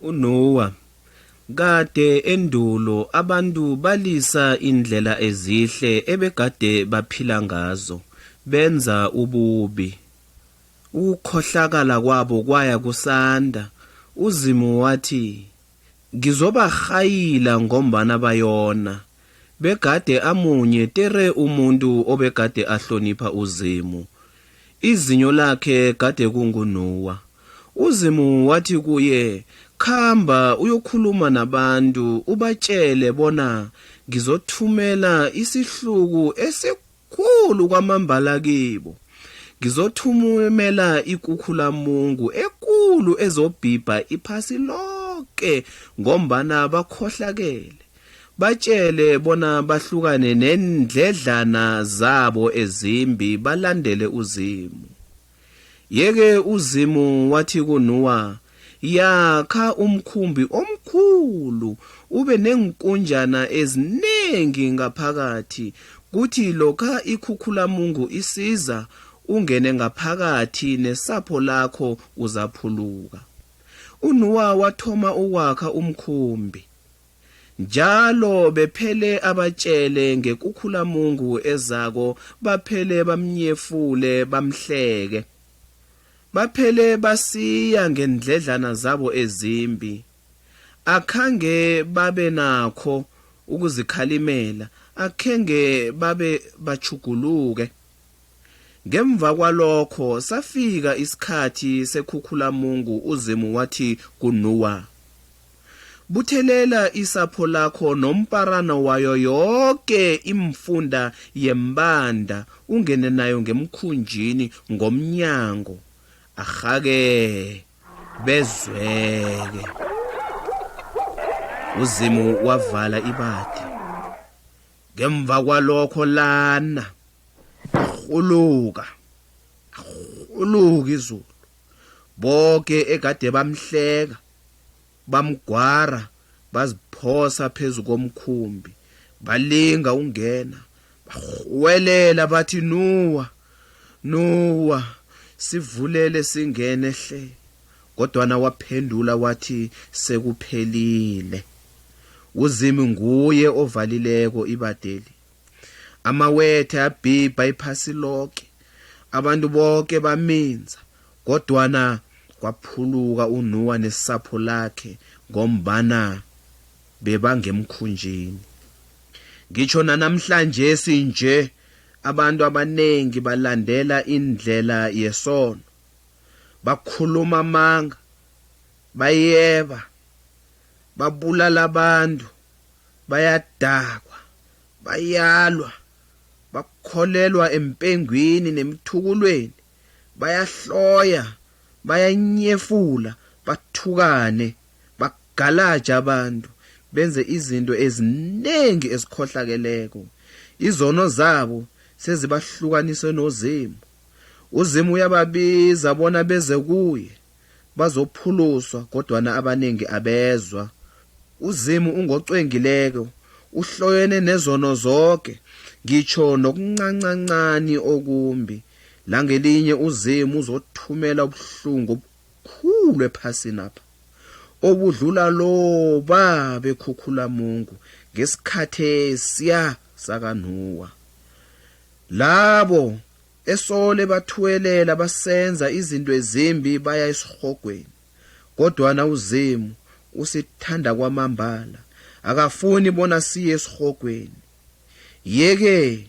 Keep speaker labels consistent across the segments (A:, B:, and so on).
A: uNowa. Kade endulo abantu balisa indlela ezihle ebegade baphila ngazo, benza ububi. Ukukhohlakala kwabo kwaya kusanda. UZimu wathi, Ngizobarhayila ngombana bayona. Begade amunye tere umuntu obegade ahlonipha uZimu. Izinyo lakhe gade kunguNowa. UZimu wathi kuye, Khamba uyokhuluma nabantu ubatjele bona ngizothumela isihluku esikhulu khulu kwamambala kibo. Ngizothumela ikukhulamungu ekulu ezobhibha iphasi loke ngombana bakhohlakele. Batjele bona bahlukane neendledlana zabo ezimbi balandele uZimu. Yeke uZimu wathi kuNuwa, Yakha umkhumbi omkhulu, ube neenkunjana ezinengi ngaphakathi, kuthi lokha ikhukhulamungu isiza, ungene ngaphakathi nesapho lakho uzaphuluka. UNuwa wathoma ukwakha umkhumbi. njalo bephele abatshele ngekhukhulamungu ezako baphele bamnyefule bamhleke baphele basiya ngendledlana zabo ezimbi akhange babe nakho ukuzikhalimela akhenge babe bachuguluke Ngemva kwalokho safika isikhathi seKhukhulamungu uZimu wathi kuNuwa, Buthelela isapho lakho nomparano wayo yoke iimfunda yembanda ungene nayo ngemkhunjini ngomnyango, arhake bezweke. UZimu wavala ibadi. ngemva kwalokho lana arhuluka arhuluka izulu boke egade bamhleka bamgwara baziphosa phezu komkhumbi balinga ungena barhuwelela bathi nuwa nuwa sivulele singene hle Kodwana waphendula wathi, Sekuphelile. UZimu nguye ovalileko ibadeli. Amawethe abhibha iphasi loke, abantu boke baminza, kodwana kwaphuluka uNuwa nesapho lakhe ngombana bebangemkhunjini. Ngitjho nanamhlanjesi nje abantu abanengi balandela indlela yesono. bakhuluma amanga bayeba babulala abantu bayadakwa bayalwa bakholelwa empengwini nemithukulweni bayahloya bayanyefula bathukane bagalaja abantu benze izinto eziningi ezikhohlakeleko izono zabo sezibahlukanise nozimu UZimu uyababiza bona beze kuye, bazokuphuluswa kodwana abanengi abezwa. UZimu ungocwengileko, uhloyene nezono zoke, ngitjho nokuncancancani okumbi. Langelinye uZimu uzothumela ubuhlungu obukhulu ephasinapha, obudlula loba bekhukhulamungu ngesikhathesiya sakaNuwa. Labo esole bathuwelela basenza izinto ezimbi baya esirhogweni, kodwana uZimu usithanda kwamambala, akafuni bona siye esirhogweni. Yeke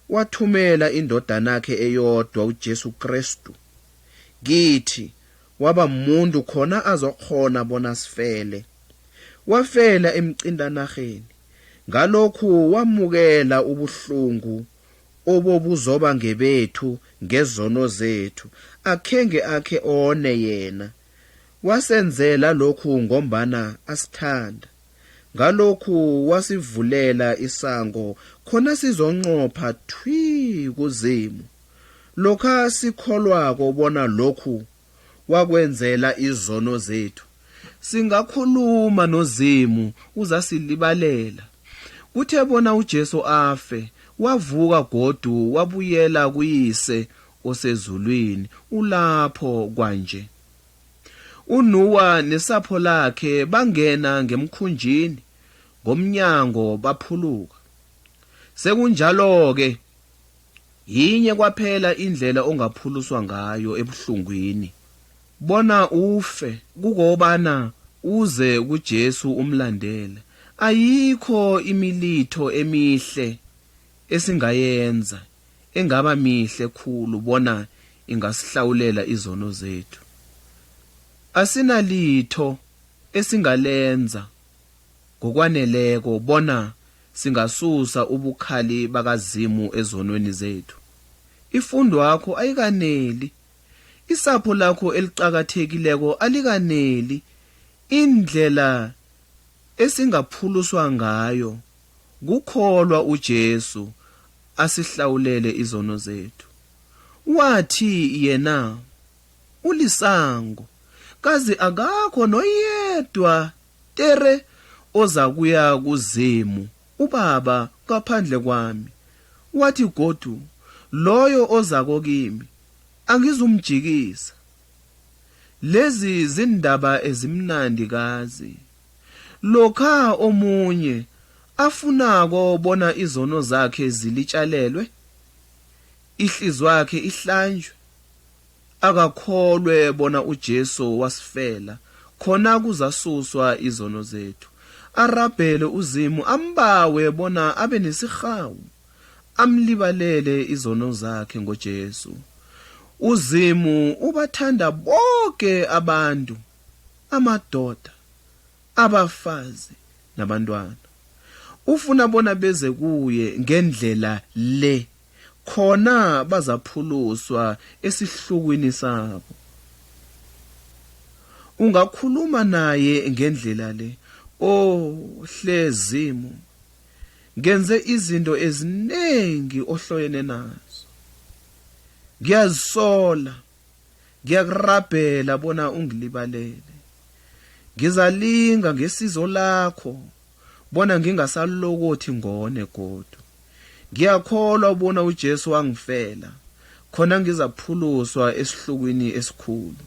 A: wathumela indodanakhe eyodwa uJesu Krestu kithi waba muntu khona azokghona bona sifele. Wafela emcintanarheni. Ngalokhu wamukela ubuhlungu obobuzoba ngebethu ngezono zethu, akhenge akhe one yena. Wasenzela lokhu ngombana asithanda. Ngalokhu wasivulela isango khona sizonqopha thwi kuZimu. Lokha sikholwako bona lokhu wakwenzela izono zethu. Singakhuluma noZimu uzasilibalela. Kuthe bona uJesu afe, wavuka godu wabuyela kuYise osezulwini, ulapho kwanje. UNuwa nesapho lakhe bangena ngemkhunjini, ngomnyango baphuluka. Sekunjalo-ke, Yinye kwaphela indlela ongaphuluswa ngayo ebuhlungwini bona ufe kukobana uze kuJesu umlandele. Ayikho imilitho emihle esingayenza engaba mihle khulu bona ingasihlawulela izono zethu. Asinalitho esingalenza ngokwaneleko bona singasusa ubukhali bakaZimu ezonweni zethu. Ifundwakho ayikaneli. Isapho lakho eliqakathekileko alikaneli. Indlela esingaphuluswa ngayo kukholwa uJesu asihlawulele izono zethu. Wathi yena, Ulisango, kazi akakho noyedwa Tere ozakuya kuZimu uBaba ngaphandle kwami. Wathi godu, Loyo ozako kimi, angizumjikisa. Lezi ziindaba ezimnandi kazi. Lokha omunye afunako bona izono zakhe zilitjalelwe, ihlizwakhe ihlanjwe, akakholwe bona uJesu wasifela, khona kuzasuswa izono zethu. Arabhele uZimu ambawe bona abe nesirhawu, amlibalele izono zakhe ngoJesu. UZimu ubathanda boke abantu, amadoda, abafazi nabantwana. Ufuna bona beze kuye ngendlela le. khona bazaphuluswa esihlukwini sabo. Ungakhuluma naye ngendlela le, O hle Zimu, ngenze izinto ezinengi ohloyene nazo. Ngiyazisola. Ngiyakurabhela bona ungilibalele. Ngizalinga ngesizo lakho bona ngingasalokothi ngone godu. Ngiyakholwa bona uJesu wangifela, khona ngizaphuluswa esihlukweni esikhulu.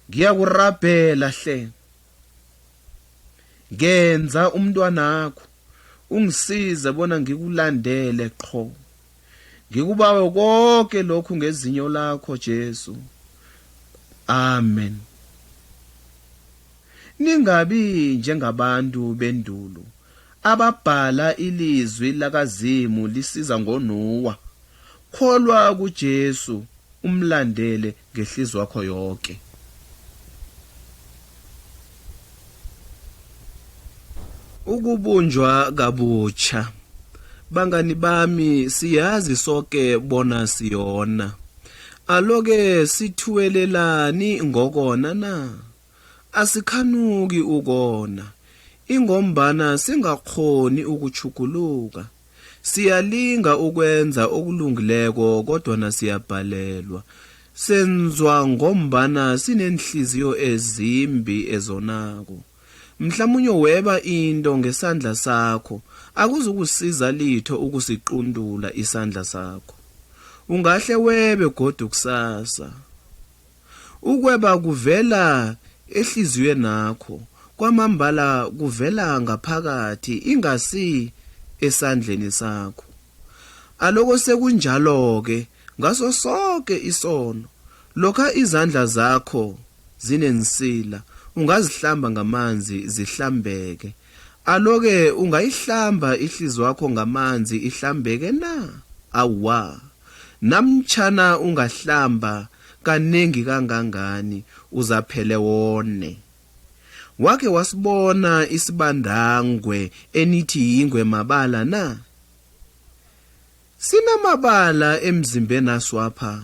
A: Ngiyakurabhela hle. Ngenza umntwanakho, ungisize bona ngikulandele qho. ngikubawe konke lokhu ngezinyo lakho Jesu amen ningabi njengabantu bendulo ababhala ilizwi lakazimu lisiza ngonuwa kholwa kujesu umlandele ngehliziyo yakho yoke ukubunjwa kabutsha bangani bami siyazi soke bona siyona aloke sithuwelelani ngokona na asikhanuki ukona, ingombana singakghoni ukutjhuguluka. Siyalinga ukwenza okulungileko kodwana siyabhalelwa. Senzwa ngombana sineenhliziyo ezimbi ezonako. Mhlamunye weba into ngesandla sakho, akuzukusiza litho ukusiquntula isandla sakho. Ungahle webe godu kusasa. Ukweba kuvela ehliziywenakho, kwamambala kuvela ngaphakathi ingasi esandleni sakho. Aloko sekunjalo-ke ngaso soke isono, lokha izandla zakho zinensila, ungazihlamba ngamanzi zihlambeke, Alo-ke ungayihlamba ihlizwakho ngamanzi ihlambeke na? Awa. Namtjhana ungahlamba kanengi kangangani uzaphele wone. Wake wasibona isibandangwe enithi yingwe mabala na? Sinamabala emzimbenaswapha,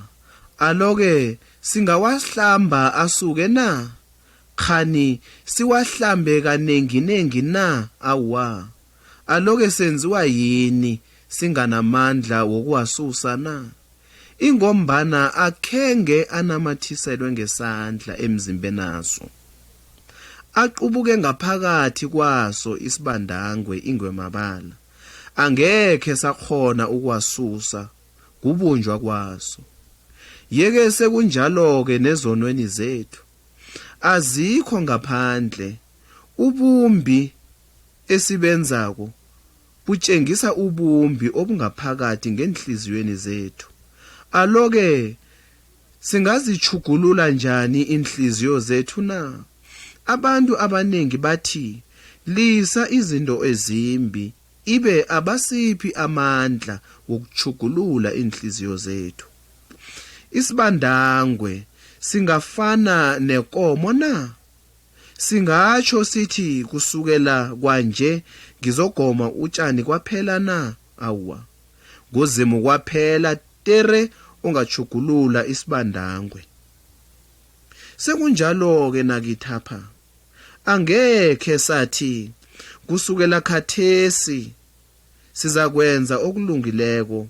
A: alo-ke singawasihlamba asuke na? Kghani siwahlambe kanenginengi na? Awa. Aloke senziwa yini singanamandla wokuwasusa na? Ingombana akhenge anamathiselwe ngesandla emzimbenaso. Aqubuke ngaphakathi kwaso isibandangwe ingwemabala. Angekhe sakghona ukuwasusa kubunjwa kwaso. Yeke sekunjalo-ke nezonweni zethu. azikho ngaphandle ubumbi esibenzako butshengisa ubumbi obungaphakathi ngeenhliziyweni zethu aloke singazitjhugulula njani iinhliziyo zethu na abantu abaningi bathi lisa izinto ezimbi Ibe abasiphi amandla wokutjhugulula iinhliziyo zethu. Isibandangwe singafana nekomo na? Singatjho sithi kusukela kwanje ngizogoma utjani kwaphela na? Awa. NguZimu kwaphela tere ongatjhugulula isibandangwe. Sekunjalo-ke nakithapha. Angekhe sathi, Kusukela khathesi sizakwenza okulungileko.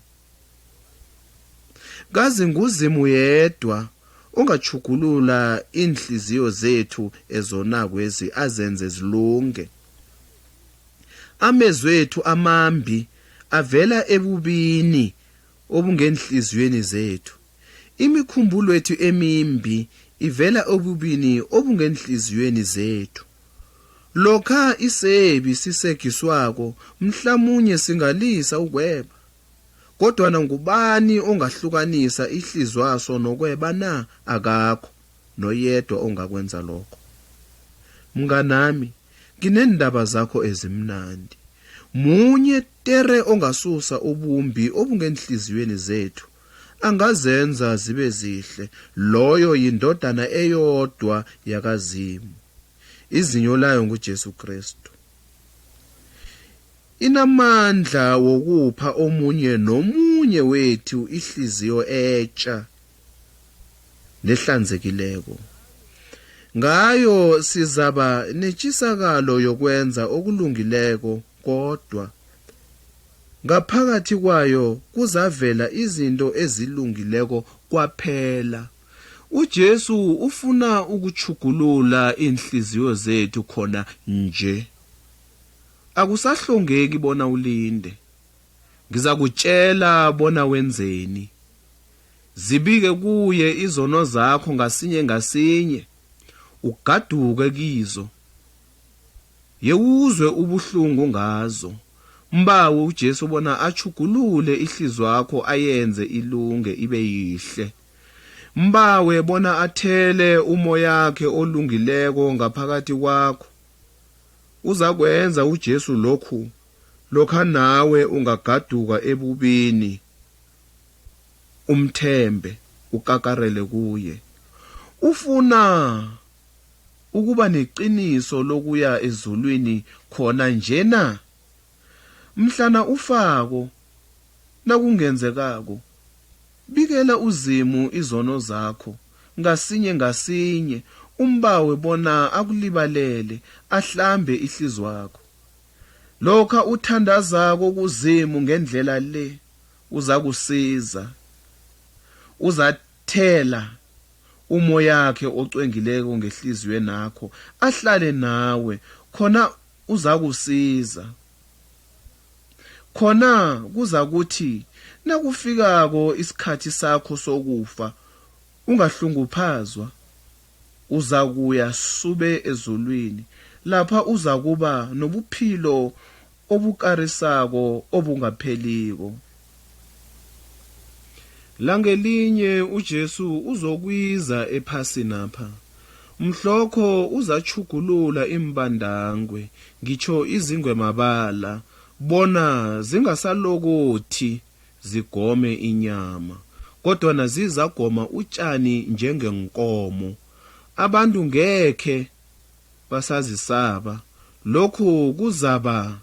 A: Kazi nguZimu yedwa ongatjhugulula iinhliziyo zethu ezonakwezi azenze zilunge. Amezwethu amambi avela ebubini obungeenhliziyweni zethu. Imikhumbulwethu emimbi ivela ebubini obungeenhliziyweni zethu. Lokha isebi sisegiswako, mhlamunye singalisa ukweba. Kodwana ngubani ongahlukanisa ihlizwaso nokweba na? Akakho noyedwa ongakwenza lokho. Mnganami, ngineendaba zakho ezimnandi. Munye Tere ongasusa ubumbi obungeenhliziyweni zethu, angazenza zibe zihle, loyo yiNdodana eyodwa yakaZimu. Izinyo layo nguJesu Krestu. Inamandla wokupha omunye nomunye wethu ihliziyo etja lehlanzekileko. Ngayo sizaba netjisakalo yokwenza okulungileko kodwa ngaphakathi kwayo kuzavela izinto ezilungileko kwaphela. UJesu ufuna ukutjhugulula iinhliziyo zethu khona nje. Akusahlongeki bona ulinde. Ngizakutjela bona wenzeni. Zibike kuye izono zakho ngasinye ngasinye, ugaduke kizo. Yewuzwe ubuhlungu ngazo. Mbawe uJesu bona atjhugulule ihliziywakho ayenze ilunge ibe yihle. Mbawe bona athele umoyakhe olungileko ngaphakathi kwakho. Uzakwenza uJesu lokhu lokha nawe ungagaduka ebubini. umthembe, ukakarele kuye. Ufuna ukuba neqiniso lokuya ezulwini khona nje na? Mhlana ufako, nakungenzekako, bikela uZimu izono zakho ngasinye ngasinye umbawe bona akulibalele, ahlambe ihlizwakho. Lokha uthandazako kuZimu ngendlela le, uzakusiza. Uzathela umoyakhe ocwengileko ngehliziywenakho, ahlale nawe, khona uzakusiza. Khona kuzakuthi nakufikako isikhathi sakho sokufa, ungahlunguphazwa. Uzakuya sube ezulwini, lapha uzakuba nobuphilo obukarisako obungapheliko. Langelinye uJesu uzokwiza ephasinapha. Mhlokho uzatjhugulula iimbandangwe, ngitjho izingwemabala, bona zingasalokothi. zigome inyama, kodwana zizagoma utjani njengeenkomo. Abantu ngekhe basazisaba, lokhu kuzaba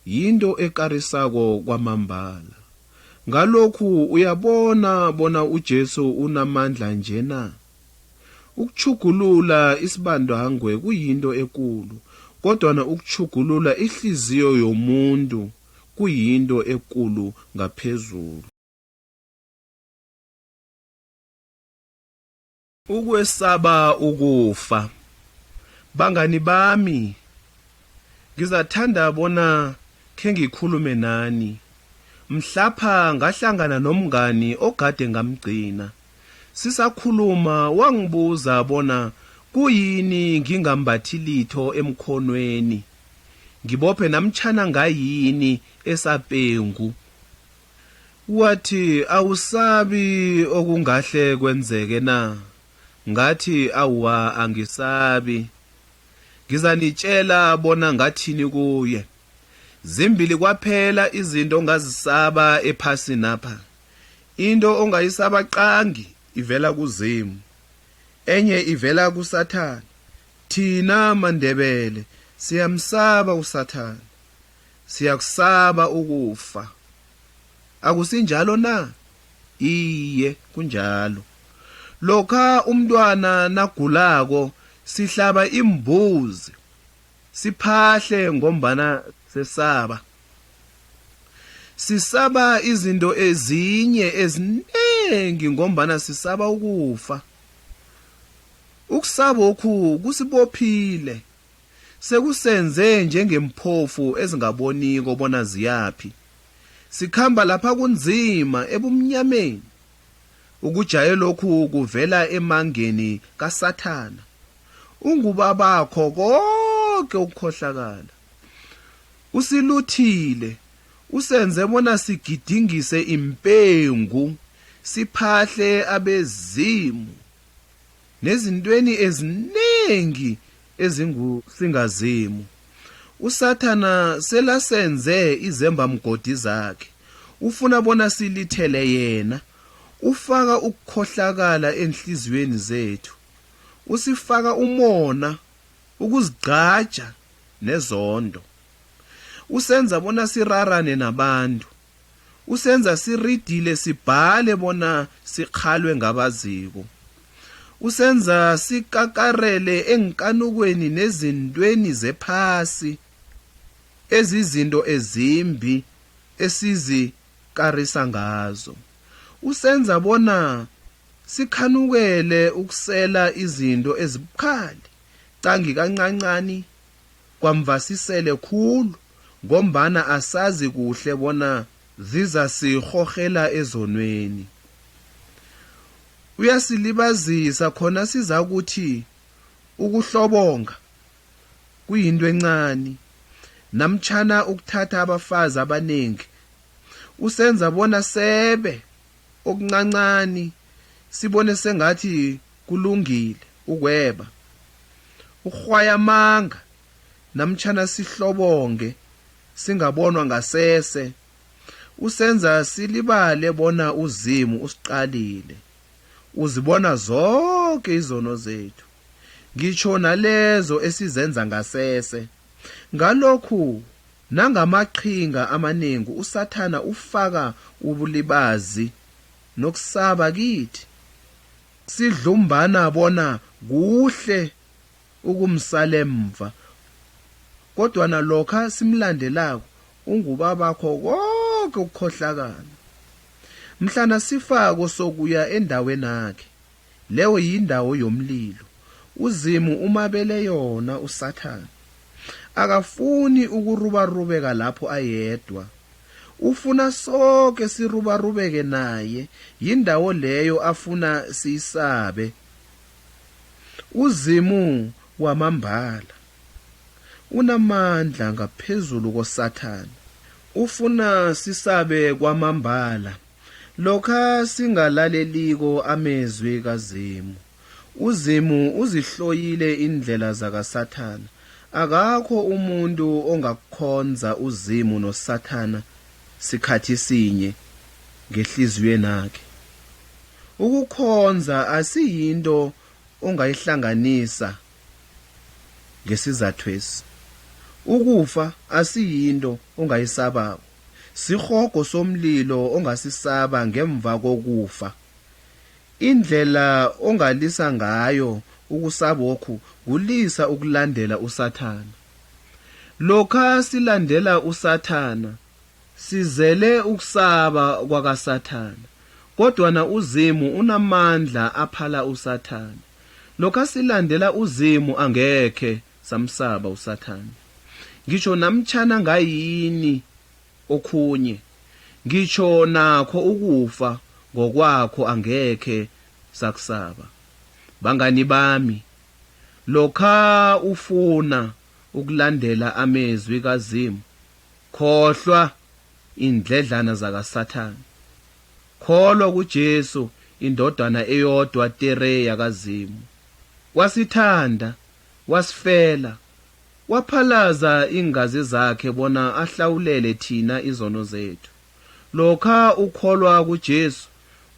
A: yinto ekarisako kwamambala. Ngalokhu uyabona bona uJesu unamandla nje na? Ukutjhugulula isibandangwe kuyinto ekulu, kodwana ukutjhugulula ihliziyo yomuntu kuyinto ekulu ngaphezulu. Ukwesaba ukufa. Bangani bami, ngizathanda bona khengikhulume nani. Mhlapha ngahlangana nomngani ogade ngamgcina. Sisakhuluma wangibuza bona kuyini ngingambathi litho emkhonweni. ngibophe namtshana ngayini esapengu wathi awusabi okungahle kwenzeke na ngathi awa angisabi ngizanitshela bona ngathini kuye zimbili kwaphela izinto ongazisaba ephasini apha into ongayisaba qangi ivela kuzimu enye ivela kusathana Thina maNdebele siyamsaba uSathana. Siyakusaba ukufa. Akusinjalo na? Iye, kunjalo. Lokha umntwana nagulako sihlaba imbuzi. Siphahle ngombana sesaba. Sisaba izinto ezinye ezinengi ngombana sisaba ukufa. Ukusabokhu kusibophile, sekusenze njengeemphofu ezingaboniko bona ziyaphi. Sikhamba lapha kunzima ebumnyameni. Ukujayelokhu kuvela emangeni kaSathana. Ungubabakho koke ukukhohlakala. Usiluthile, usenze bona sigidingise iimpengu, siphahle abezimu. nezintweni eziningi ezingusingazimu usathana selasenze izembamgodi zakhe ufuna bona silithele yena ufaka ukukhohlakala enhliziyweni zethu usifaka umona ukuzigqaja nezondo usenza bona sirarane nabantu Usenza siridile sibhale bona sikhalwe ngabaziko. Usenza sikakarele eenkanukweni nezintweni zephasi ezizinto ezimbi esizikarisa ngazo. Usenza bona sikhanukele ukusela izinto ezibukhali, qangi kancancani kwamvasisele khulu ngombana asazi kuhle bona zizasirhorhela ezonweni. Uyasilibazisa khona sizakuthi ukuhlobonga kuyinto encani namtjhana ukuthatha abafazi abanengi usenza bona sebe okuncancani sibone sengathi kulungile ukweba, ukurhwaya amanga namtjhana sihlobonge singabonwa ngasese, usenza silibale bona uZimu usiqalile, uzibona zoke izono zethu, ngitjho nalezo esizenza ngasese. Ngalokhu Nangamaqhinga amanengi uSathana ufaka ubulibazi nokusaba kithi, sidlumbana bona kuhle ukumsala emva. Kodwana lokha simlandelako, ungubabakho koke ukukhohlakala. Mhlana sifako sokuya endawenakhe. Leyo yindawo yomlilo. UZimu umabele yona uSathana. Akafuni ukurubarubeka lapho ayedwa. Ufuna soke sirubarubeke naye, yindawo leyo afuna siyisabe. UZimu wamambala unamandla ngaphezulu koSathana. Ufuna sisabe kwamambala. Lokha singalaleliko amezwi kaZimu, uZimu uzihloyile iindlela zakaSathana. Akakho umuntu ongakukhonza uZimu noSathana sikhathi sinye ngehliziywenakhe. Ukukhonza asiyinto ongayihlanganisa ngesizathwesi. Ukufa asiyinto ongayisabako. Sirhogo somlilo ongasisaba ngemva kokufa. Indlela ongalisa ngayo ukusabokhu kulisa ukulandela uSathana. Lokha silandela uSathana, sizele ukusaba kwakaSathana. Kodwana uZimu unamandla aphala uSathana. Lokha silandela uZimu angekhe Samsaba uSathana. Ngitjho namtjhana ngayini okhunye, ngitjho nakho ukufa ngokwakho angekhe sakusaba. Bangani bami, lokha ufuna ukulandela amezwi kaZimu, khohlwa iindledlana zakaSathana. Kholwa kuJesu iNdodana eyodwa tere yakaZimu. Wasithanda Wasifela. Waphalaza iingazi zakhe bona ahlawulele thina izono zethu. Lokha ukholwa kuJesu,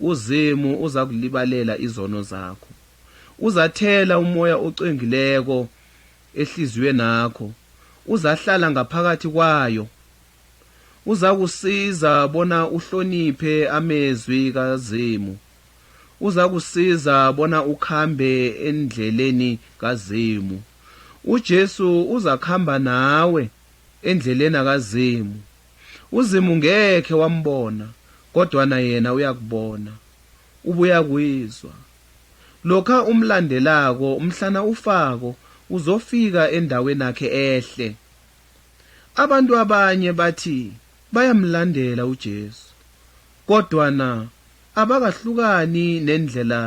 A: uZimu uzakulibalela izono zakho. Uzathela umoya ocwengileko ehliziywenakho, uzahlala ngaphakathi kwayo. Uzakusiza bona uhloniphe amezwi kaZimu. Uzakusiza bona ukhambe endleleni kaZimu. UJesu uzakhamba nawe endlelena kaZimu. UZimu ngekhe wambona kodwana yena uyakubona. Ubuyakwizwa. Lokha umlandelako mhlana ufako uzofika endawenakhe ehle. Abantu abanye bathi bayamlandela uJesu, kodwana abakahlukani nendlela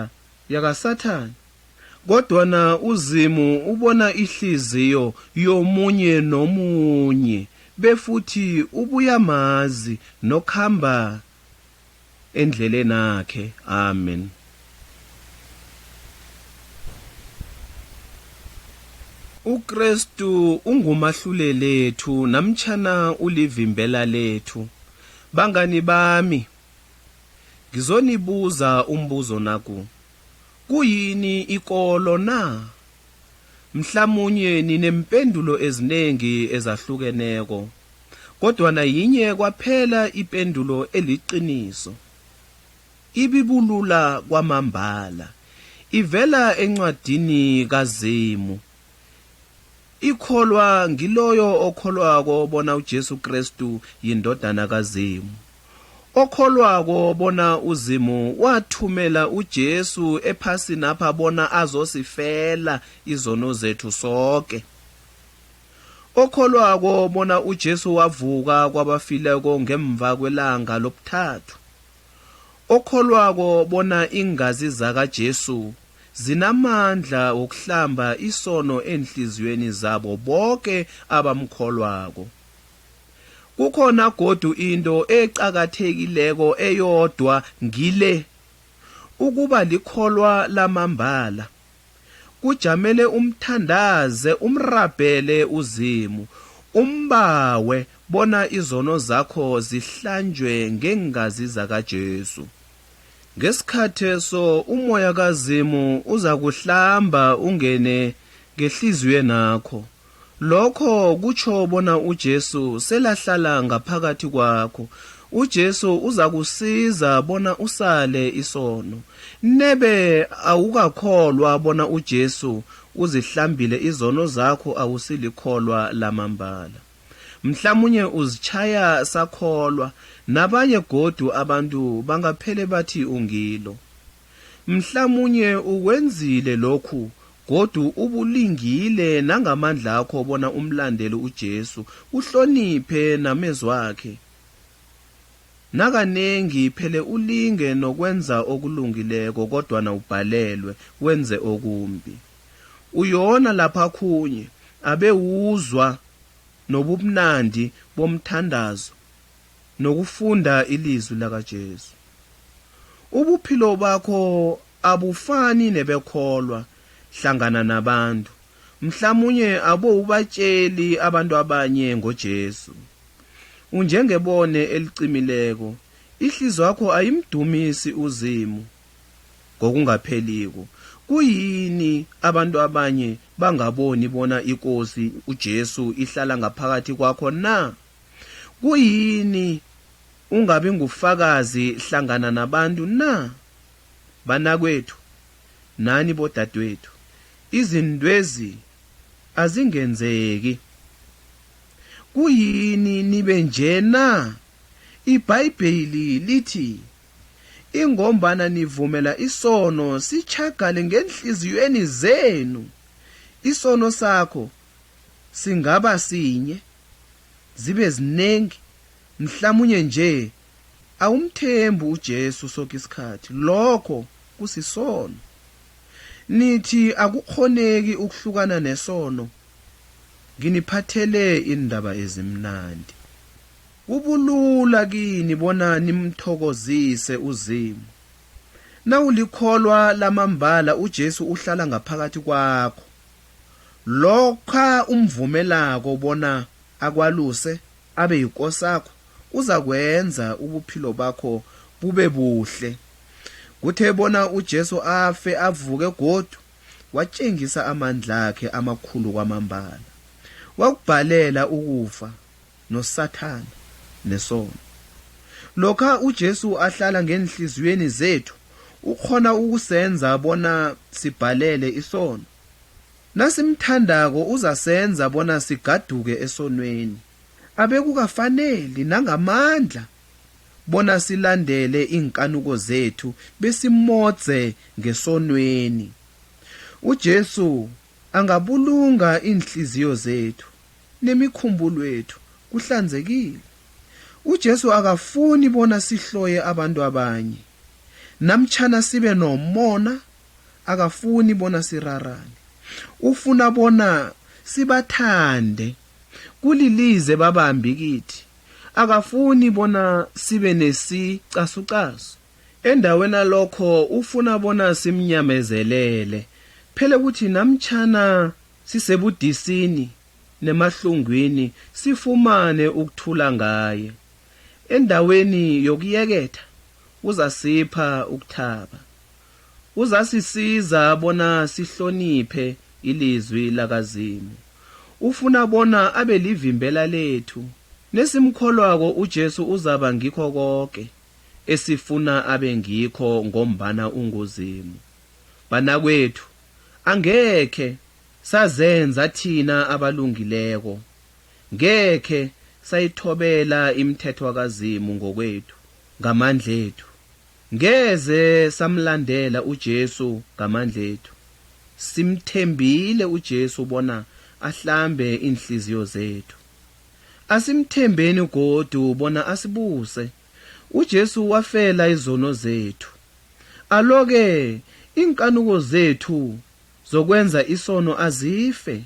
A: yakaSathana. Kodwana uZimu ubona ihliziyo yomunye nomunye befuthi ubuyamazi nokhamba endlelenakhe. Amen. UKrestu ungumahlulelethu namtjhana ulivimbela lethu. Bangani bami, ngizonibuza umbuzo naku, Kuyini ikolo na? Mhlamunye ninempendulo ezinengi ezahlukeneko, kodwana yinye kwaphela ipendulo eliqiniso. Ibibulula kwamambala, ivela encwadini kaZimu. Ikholwa ngiloyo okholwako bona uJesu Krestu yiNdodana kaZimu. Okholwako bona uZimu wathumela uJesu ephasinapha bona azosifela izono zethu soke. Okholwako bona uJesu wavuka kwabafileko ngemva kwelanga lobuthathu. Okholwako bona iingazi zakaJesu zinamandla wokuhlamba isono eenhliziyweni zabo boke abamkholwako. Kukhona godu into eqakathekileko eyodwa ngile, ukuba likholwa lamambala. Kujamele umthandaze, umrabhele uZimu, umbawe bona izono zakho zihlanjwe ngeengazi zakaJesu. Ngesikhatheso umoya kaZimu uzakuhlamba ungene ngehliziywenakho. Lokho kutjho bona uJesu selahlala ngaphakathi kwakho. UJesu uzakusiza bona usale isono. Nebe awukakholwa bona uJesu uzihlambile izono zakho awusilikholwa lamambala. Mhlamunye uzitjhaya sakholwa, nabanye godu abantu bangaphele bathi ungilo. Mhlamunye ukwenzile lokhu Godu ubulingile nangamandlakho bona umlandele uJesu, uhloniphe namezwakhe. Nakanengi phele ulinge nokwenza okulungileko kodwana ubhalelwe, wenze okumbi. Uyona lapha khunye abe uzwa nobubnandi bomthandazo nokufunda ilizwi lakaJesu. Ubuphilo bakho abufani nebekholwa hlangana nabantu. Mhlamunye abowubatjeli abantu abanye ngoJesu. Unjengebone elicimileko, ihliziywakho ayimdumisi uZimu ngokungapheliko. Kuyini abantu abanye bangaboni bona iKosi uJesu ihlala ngaphakathi kwakho na? Kuyini ungabi ngufakazi hlangana nabantu na? banakwethu, nani bodadwethu, izintwezi azingenzeki. Kuyini nibe nje na? IBhayibheli lithi, Ingombana nivumela isono sitjhagale ngeenhliziyweni zenu. Isono sakho singaba sinye, zibe zinengi, mhlamunye nje awumthembi uJesu soke isikhathi, lokho kusisono. Nithi akukghoneki ukuhlukana nesono? Nginiphathele iindaba ezimnandi. Kubulula kini bona nimthokozise uZimu. Nawulikholwa lamambala uJesu uhlala ngaphakathi kwakho. Lokha umvumelako bona akwaluse, Abe yikosakho, uzakwenza ubuphilo bakho bube buhle. Kuthe bona uJesu afe avuke godu, watjengisa amandlakhe amakhulu kwamambala. Wakubhalela ukufa noSathana nesono. Lokha uJesu ahlala ngeenhliziyweni zethu, ukghona ukusenza bona sibhalele isono. Nasimthandako uzasenza bona sigaduke esonweni. Abekukafaneli nangamandla bona silandele iinkanuko zethu besimodze ngesonweni. UJesu angabulunga iinhliziyo zethu nemikhumbulwethu kuhlanzekile. UJesu akafuni bona sihloye abantu abanye namtjhana sibe nomona akafuni bona sirarane. Ufuna bona sibathande. Kulilize babambi kithi. Akafuni bona sibe nesicasucasu. Endaweni lokho ufuna bona simnyamezelele. Phele kuthi namtjhana sisebudisini nemahlungwini sifumane ukuthula ngaye. Endaweni yokuyeketha uzasipha ukuthaba. Uzasisiza bona sihloniphe iliZwi lakaZimu. Ufuna bona abe livimbela lethu. Nesimkholwako uJesu uzaba ngikho koke esifuna abe ngikho ngombana unguZimu. Banakwethu, angekhe sazenza thina abalungileko. Ngekhe sayithobela imithethwa kaZimu ngokwethu, ngamandlethu. Ngeze samlandela uJesu ngamandlethu. Simthembile uJesu bona ahlambe iinhliziyo zethu. Asimthembeni godu bona asibuse. UJesu wafela izono zethu. Alo-ke iinkanuko zethu zokwenza isono azife.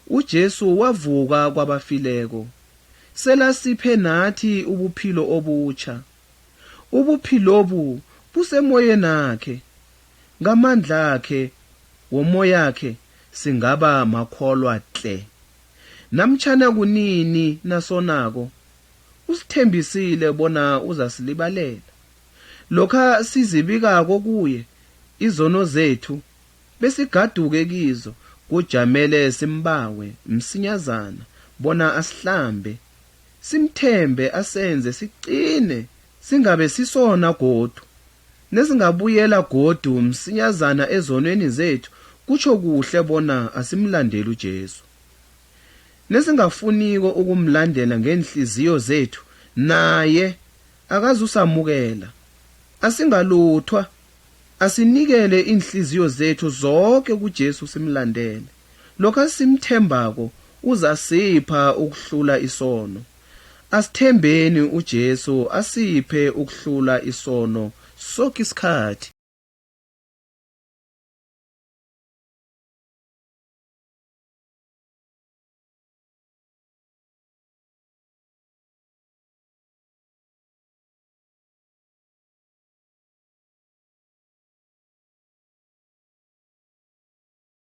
A: UJesu wavuka kwabafileko. Selasiphe nathi ubuphilo obutjha. Ubuphilobu busemoyenakhe. Ngamandlakhe womoyakhe singaba makholwa tle. Namtjhana kunini nasonako, usithembisile bona uzasilibalela. Lokha sizibikako kuye izono zethu besigaduke kizo kujamele simbawe msinyazana bona asihlambe, simthembe asenze siqine singabe sisona godu, nesingabuyela godu msinyazana ezonweni zethu kutjho kuhle bona asimlandeli uJesu. Nesingafuniko ukumlandela ngeenhliziyo zethu naye akazusamukela. Asingaluthwa, asinikele iinhliziyo zethu zoke kuJesu simlandele. Lokho esimthembako uzasipha ukuhlula isono. Asithembeni uJesu asiphe ukuhlula isono soke isikhathi.